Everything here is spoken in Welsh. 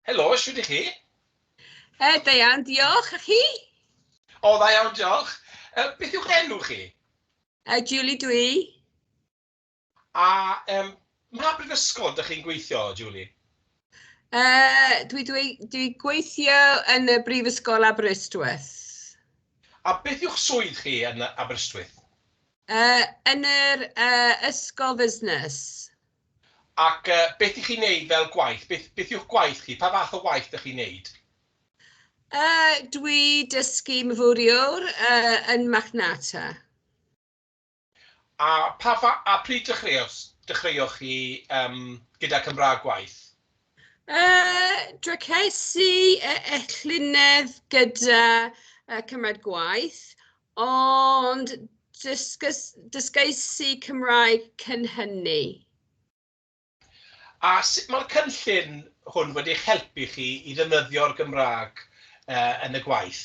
Helo, siwr i chi? E, da iawn, diolch. A chi? O, da iawn, diolch. E, beth yw'ch enw chi? E, Julie dwi. A um, mae brifysgol ydych chi'n gweithio, Julie? E, dwi, dwi, dwi gweithio yn y brifysgol Aberystwyth. A beth yw'ch swydd chi yn Aberystwyth? Yy, yn yr yy ysgol fusnes. Ac yy, beth y'ch chi'n neud fel gwaith? Beth, beth yw'ch gwaith chi? Pa fath o waith dych chi'n neud? Yy, dwi dysgu myfyriwr yy, yn Machnata. A pa fa- a pryd dechreuos, dechreuoch chi yym, gyda Cymraeg gwaith? Uh, Dracesi e, e llynedd gyda uh, cymryd gwaith, ond dysgys, dysgeisu Cymraeg cyn hynny. A sut mae'r cynllun hwn wedi eich helpu chi i ddefnyddio'r Gymraeg uh, yn y gwaith?